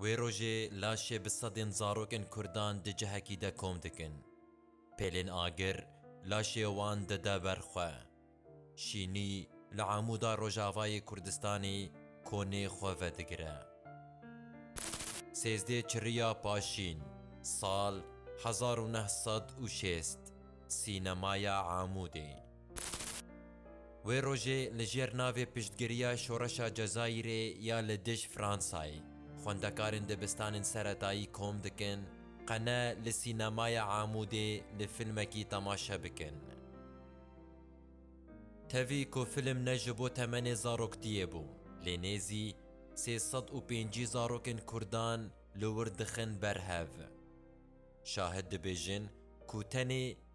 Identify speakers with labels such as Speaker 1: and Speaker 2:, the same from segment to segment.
Speaker 1: Wê rojê laşê bi sedên zarokên Kurdan di cihekî de kom dikin. Pêlên agir laşê wan dide ber xwe. Şînî li Amûda Rojavayê Kurdistanê konê xwe vedigire. Sêzdê Çiriya Paşîn, sal hezar û neh sed û şêst, Sînemaya Amûdê. Wê rojê li jêr navê piştgiriya şoreşa Cezayîrê ya li dij Fransayê, xwendekarên dibistanên seretayî kom dikin qene li sînemaya Amûdê li filmekî temaşe bikin. Tevî ku film ne ji bo temenê zaroktiyê bû, lê nêzî sê sed û pêncî zarokên kurdan li wir dixin ber hev. Şahid dibêjin ku tenê.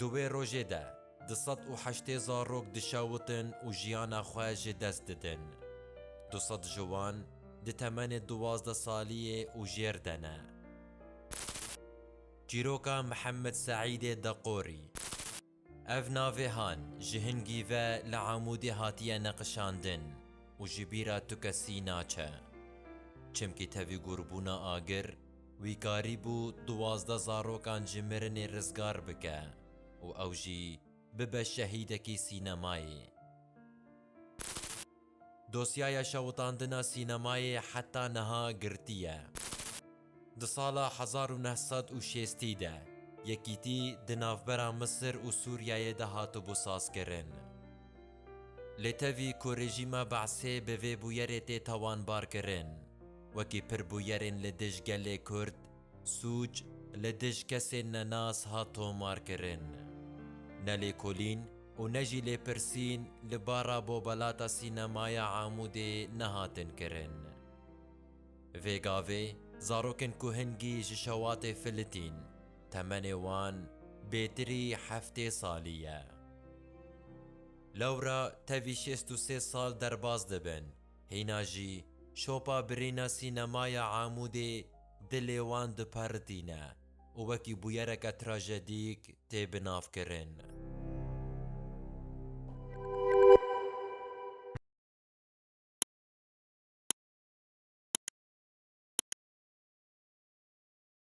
Speaker 1: Di wê rojê de du sed û heştê zarok dişewitin û jiyana xwe ji dest didin. Du sed ji wan di temenê duwazdeh saliyê û jêr de ne. Çîroka Mihemed Seîdê Deqorî. Ev navê Han ji hingî ve li Amûdê hatiye neqişandin û ji bîra tu kesî naçe. Çimkî tevî gurbûna agir, wî karîbû duwazdeh zarokan ji mirinê rizgar bike û ew jî bibe şehîdekî sînemayê. Dosyaya şewitandina sînemayê heta niha girtî ye. Di sala hezar û neh sed û şêstî de yekîtî di navbera Misir û Sûriyeyê de hatibû sazkirin. Lê tevî ku rejîma Be'sê bi vê bûyerê tê tawanbarkirin wekî pirbûyerên li dij gelê Kurd, Sûc li dij kesên nenas hat tomarkirin. Nelêkolîn û ne jî lêpirsîn li bara Bobalata Sînemaya Amûdê nehatin kirin. Vê gavê zarokên ku hingî ji şewatê filitîn, temenê wan bêtirî heftê salî ye. Lewra tevî şêst û sê sal derbas dibin, hîna jî şopa birîna Sînemaya Amûdê, Dilê wan dipertîne û wekî bûyereke trajedîk tê binavkirin.